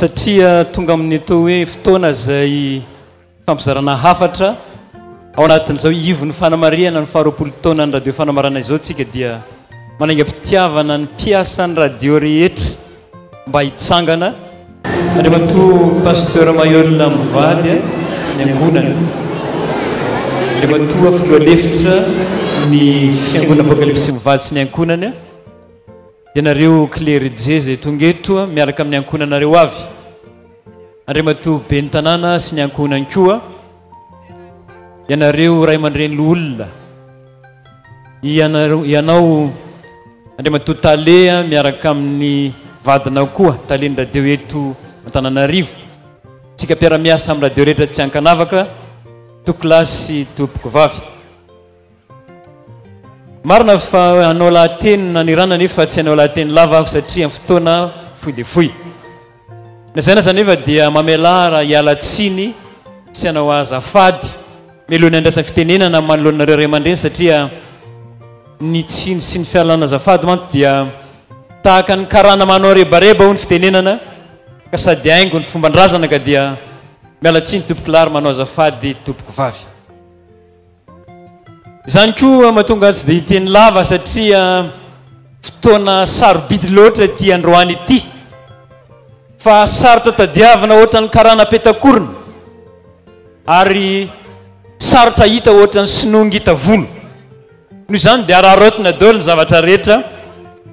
Satria tonga amin'ny toa hoe fotoana izay fampizarana hafatra ao anatin'izao ivon'ny fanamarihana ny faharoapolo taonan'ny radio fanamarana izao tsika dia manaingam-pitiavana ny mpiasan'ny radio rehetra mba hitsangana Andriamatoa Pasteur Maheul mivady sy ny ankohonany Andriamatoa Filoha Lefitra ny Fiangonana Apocalypse mivady sy ny ankohonany. Ianareo klerjie izay tonga eto miaraka amin'ny ankohonanareo avy, Andriamatoa Ben'ny Tanàna sy ny ankohonany koa, ianareo ray aman-dreny loholona, ianareo, ianao Andriamatoa Tale miaraka amin'ny vadinao koa, Talen'ny Radio eto Antananarivo, isika mpiara-miasa amin'ny radio rehetra tsy an-kanavaka, Toa-kilahy sy Tompokovavy. Marina fa hanao lahateny nanirana nefa tsy hanao lahateny lava aho satria amin'ny fotoana fohy dia fohy. Na izay na izay anefa dia mamelàra hiala tsiny sy hanao azafady mialoha ny handraisany fitenenana manoloana anareo ray aman-dreny satria ny tsiny sy ny fialana azafady mantsy dia tahaka ny karana manao rebareba hoy ny fitenenana ka sady haingo ny fomban-drazana ka dia miala tsiny Tompokolahy ary manao azafady Tompokovavy. Izany koa mahatonga ahy tsy dia hiteny lava satria fotoana sarobidy loatra ity androany ity. Fa sarotra tadiavina ohatran'ny karana peta-korona ary sarotra hita ohatran'ny sinoa ngita volo. Noho izany dia araraotina daholo ny zavatra rehetra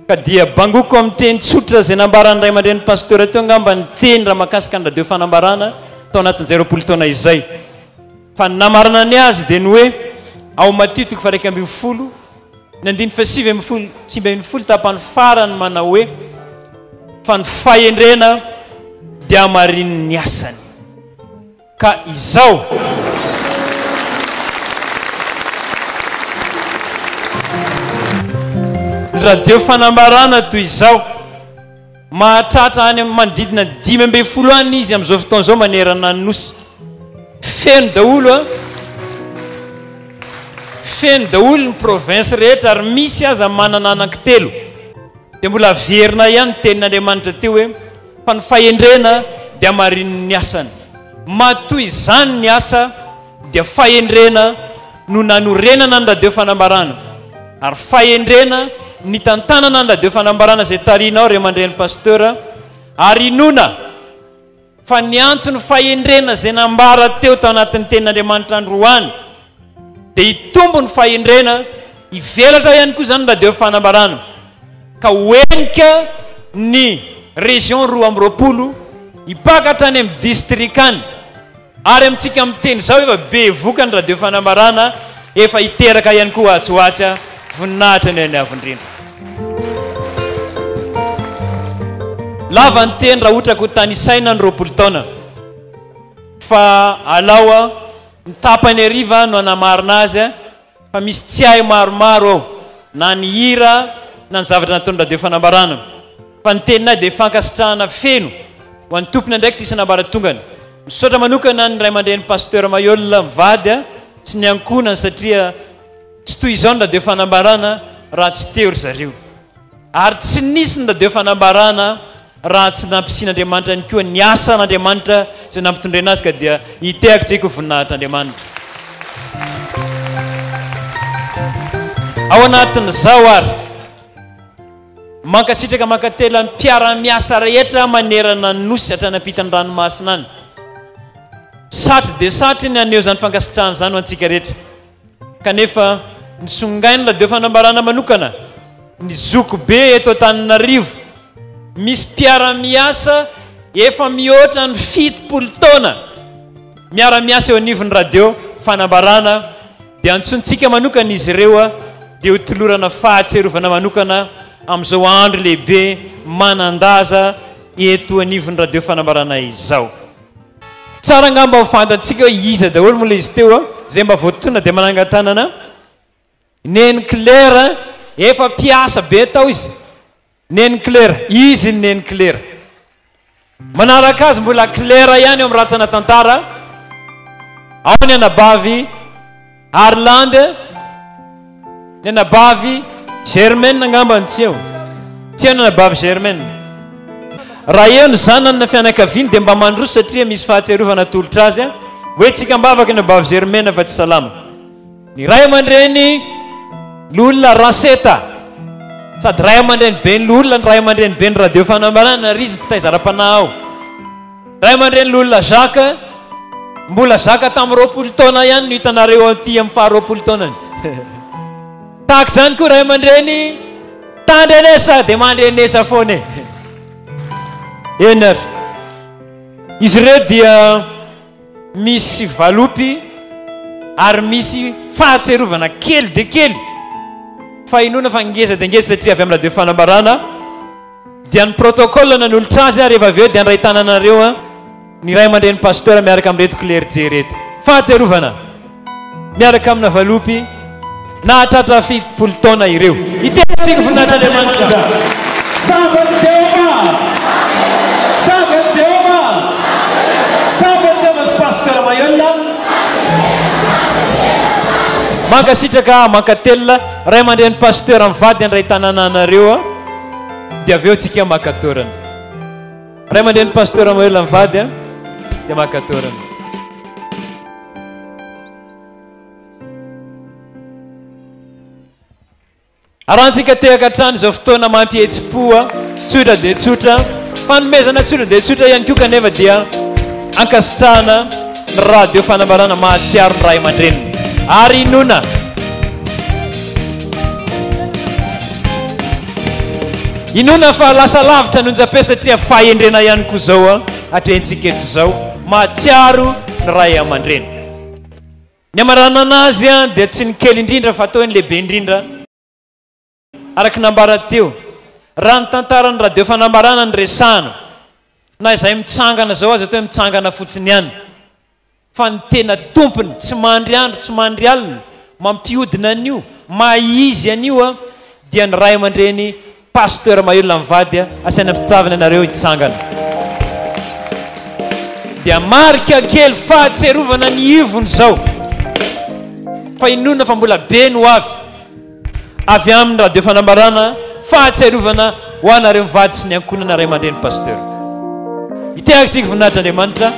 ka dia bangoko amin'ny teny tsotra izay nambaran'ny ray aman-drenin'ny pasteur teo angamba ny teny raha mahakasika ny radio fanambarana tao anatin'izay roapolo taona izay. Fa ny namarana ny azy dia ny hoe ao Matio toko faha-iraika ambin'ny folo ny andininy fahasivy ambin'ny folo sy sivy ambin'ny folo tapany farany manao hoe fa ny fahendrena dia hamarinin'ny asany ka izao radio fanambarana toy izao. Mahatratra any amin'ny manodidina ny dimy ambin'ny folo any izy amin'izao fotoana izao manerana ny Nosy. Feno daholo a! Feno daholo ny province rehetra ary misy aza manana anankitelo. Dia mbola averina ihany ny tenin'Andriamanitra teo hoe, fa ny fahendrena dia hamarinin'ny asany. Matoa izany ny asa. dia fahendrena no nanorenana ny radio fanambarana ary fahendrena nitantanana ny radio fanambarana izay tarihinao ry aman-dreny Pasteur ary inoana fa niantso ny fahendrena izay nambara teo tao anatin'ny tenin'Andriamanitra androany dia hitombo ny fahendrena hivelatra ihany koa izany ny radio fanambarana ka ho henika ny région roa amby roapolo hipaka hatrany amin'ny distrika any Ary amintsika miteny izao efa bevoka ny radio fanambarana efa hiteraka ihany koa atsy ho atsy ah. Voninahitra ny an'ny Avo indrindra. Lava ny teny raha otraka ho tanisaina ny roapolo taona fa alao ah, ny tapany hariva no hanamarina azy ah. fa misy tsiahy maromaro ao na ny hira na ny zavatra nataon'ny radio fanambarana fa ny teninay dia fankasitrahana feno ho an'ny tompony andraikitra isan'ambaratongany misaotra manokana ny ray aman-dreny pasteur Mayola mivady a sy ny ankohonany satria tsy toy izao ny radio fanambarana raha tsy teo ry zareo Ary tsy nisy ny radio fanambarana raha tsy nampisian'Andriamanitra ihany koa ny asan'Andriamanitra izay nampitondraina azy ka dia nitehaka tsy kovoninahitr'Andriamanitra. Ao anatin'izao ary, mankasitraka mankatelina ny mpiara-miasa rehetra manerana ny Nosy hatrany ampitan'ny ranomasina any. Satry dia satry ny haneho izany fankasitrahana izany ho antsika rehetra. Kanefa ny Songainla dia fanambarana manokana ny zokibe eto Antananarivo. Misy mpiara-miasa efa mihoatra ny fitopolo taona miara-miasa eo anivon'ny Radio Fanambarana dia antsointsika manokana izy ireo dia ho tolorana fahatserovana manokana amin'izao andro lehibe manan-daza eto anivon'ny Radio Fanambarana izao. Tsara angamba ho fantantsika hoe iza daholo moa ilay izy teo a, izay mba voatonona dia manangan-tanana Neny Claire, efa mpiasa be tao izy, Neny Claire, izy iny Neny Claire. Manaraka azy mbola Claire ihany eo amin'ny rantsana tantara, ao ny anabavy, Harland, Ny anabavy Germaine angamba no tsy eo. Tsy eo ny anabavy Germaine. Raha eo ny zanany na fianakaviany dia mba mandroso satria misy fahatsiarovana atolotra azy hoe tsikambavaka ny anabavy Germaine fa tsy salama. Ny ray aman-dreny Loholona Raseta, sady ray aman-dreniben'ny Loholona ny ray aman-dreniben'ny Radio Fanambarana ary izy no mpitaiza ara-panahy ao. Ray aman-dreny Lolona Jacques, mbola zaka tamin'ny roapolo taona ihany no hitanareo aty amin'ny faha roapolo taonany. Tahaka izany koa ray aman-dreny tandrenesa dia mandrenesa foana e. Eny ary. Izy ireo dia misy valopy ary misy fahatserovana kely dia kely fa inoana fa ngeza dia ngeza satria avy amin'ny radio fanambarana. Dia ny protocole nanolotra azy ary rehefa avy eo dia handray tananareo ny ray aman-dreny pasteur miaraka amin'ireto klerjy ireto. Fahatsiarovana, miaraka amina valopy nahatratra fitopolo taona ireo. Hitety tsiny voninahitr'Andriamanitra. Sabato Jehovah! Sabato Jehovah! Sabato Jehovah sy Pasteur Maheulona a! Mankasitraka, mankatelina, ray aman-dreny pasteur mivady handray tanana anareo a! Dia avy eo tsika maka toerana. Ray aman-dreny Pasteur mamelona ny vady a, dia maka toerana. Arahantsika tehaka hatrany izao fotoana mampihetsi-po a, tsotra dia tsotra, fanomezana tsotra dia tsotra ihany koa kanefa dia ankasitrahana. ny radio fanambarana mahatsiaro ny ray aman-dreniny ary inoana Inoana fa lasa lavitra ny onjam-peo satria fahendrena ihany koa izao atrehintsika eto izao mahatsiaro ny ray aman-dreny. Ny hamaranana azy dia tsy ny kely indrindra fa atao hoe ny lehibe indrindra. Araka ny nambarany teo, raha ny tantaran'ny radio Fanambarana no resahana, na izay mitsangana izao aza toa hoe mitsangana fotsiny ihany, fa ny tena tompony tsy mandry andro tsy mandry alina mampiodina an'io maha izy an'io dia ny ray aman-dreny Pasteur Mahelola mivady a, asaina am-pitiavana ianareo hitsangana dia marika kely fahatserovana ny ivony izao fa inoana fa mbola be ny ho avy. Avy amin'ny Radio Fanambarana, fahatsiarovana ho anareo mivady sy ny ankohonana ray aman-dreny Pasteur. Hitehaka antsika voninahitr' Andriamanitra.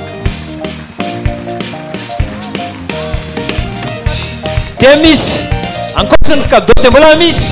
Dia misy ankoatran'ny cadeau dia mbola misy.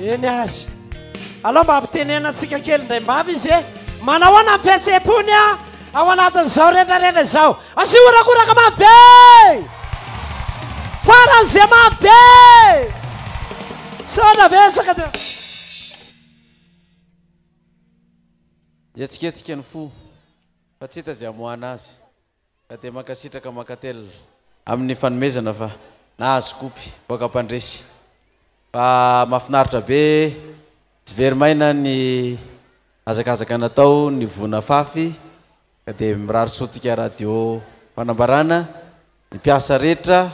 Eny ary. Alao mba ampitenenatsika kely indray mbavy izy e. Manao ahoana ny fihetseham-pony a ao anatin'izao retraretra izao. Asio horakoraka mafy be! Faran'izay mafy be! Saona vesaka dia. Hihetsiketsika ny fo fa tsy hita izay hamoahana azy. Ka dia mankasitraka Makatelina amin'ny fanomezana fa nahazo kopy vaoka mpandresy fa mafinaritra be tsy very maina ny hazakazaka natao ny voa nafafy ka dia mirary soa antsika radio fanambarana ny mpiasa rehetra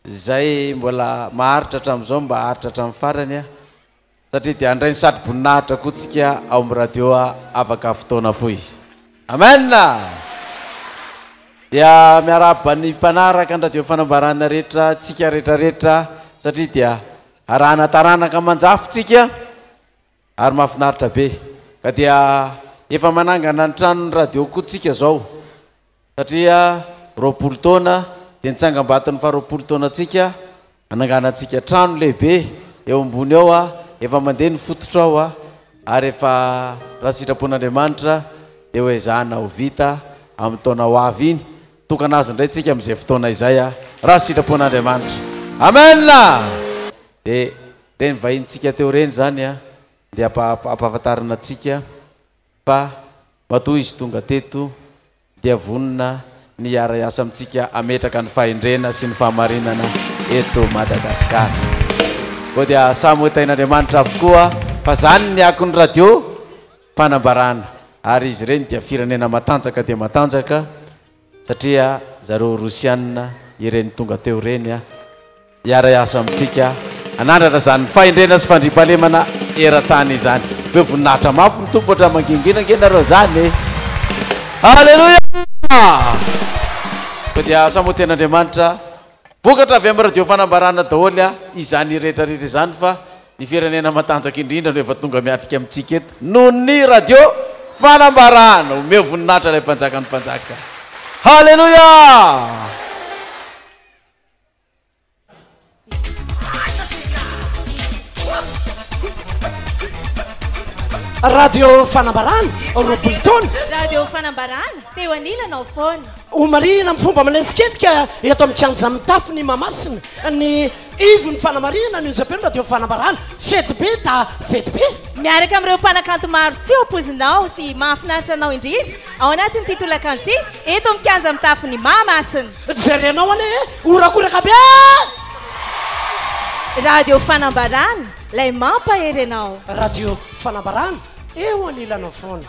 izay mbola maharitra hatramin'izao mba haharitra hatramin'ny farany Satria dia handray ny satroboninahitra koa tsika ao amin'ny radio afaka fotoana fohy. Amen! Dia miarahaba ny mpanaraka ny radio fanambarana rehetra, tsika rehetrarehetra, satria dia arahana taranaka manjafo tsika, ary mahafinaritra be. Ka dia efa manangana ny tranon'ny radio koa tsika izao. satria roapolo taona dia ny tsangambaton'ny faharoapolo taonantsika hananganantsika trano lehibe eo ambony ao a efa mandeha ny fototra ao a ary efa raha sitrapon'andriamanitra dia ho ezahana ho vita amin'ny taona ho avy iny tokana azy indray tsika amin'izay fotoana izay a raha sitrapon'andriamanitra amen dia reny vahintsika teo reny zany a dia ampahafantarina antsika Fa matoa izy tonga teto dia vonona ny hiara-hiasa amintsika hametraka ny fahendrena sy ny fahamarinana eto Madagasikara. Koa dia samy ho tahin'Andriamanitra avokoa fa izany ny akon'ny radio fanambarana ary izy ireny dia firenena matanjaka dia matanjaka satria zareo rosianina ireny tonga teo ireny a hiara hiasa amintsika hanandratra izany fahendrena sy fandriampahalemana eran-tany izany hoe voninahitra mafy ny tompo ohatra mangingina ange nareo izany aleloia fa dia asa moa tena Andriamanitra Vokatra avy amin'ny radio fanambarana daholo izany rehetra rehetra izany fa ny firenena matanjaka indrindra no efa tonga miatrika amintsika eto noho ny radio fanambarana! Omeo voninahitra ilay mpanjakan'ny mpanjaka! Haleloia! Radio fanambarana roapolo taona. Radio fanambarana teo anilanao foana. Homarihina amin'ny fomba manesikendrika eto amin'ny kianja mitafo ny Mahamasina ny ivon'ny fanamarihana ny onjampenola dia ho fanambarana fety be da fety be. Miaraka amin'ireo mpanakanto maro tsy ho poizinao sy mahafinaritra anao indrindra ao anatin'ity tolakandro ity eto amin'ny kianja mitafo ny Mahamasina. Jerenao anie e! Horakoraka be e! Radio Fanambarana, ilay mampahery anao. Radio Fanambarana, Eo anilanao foana.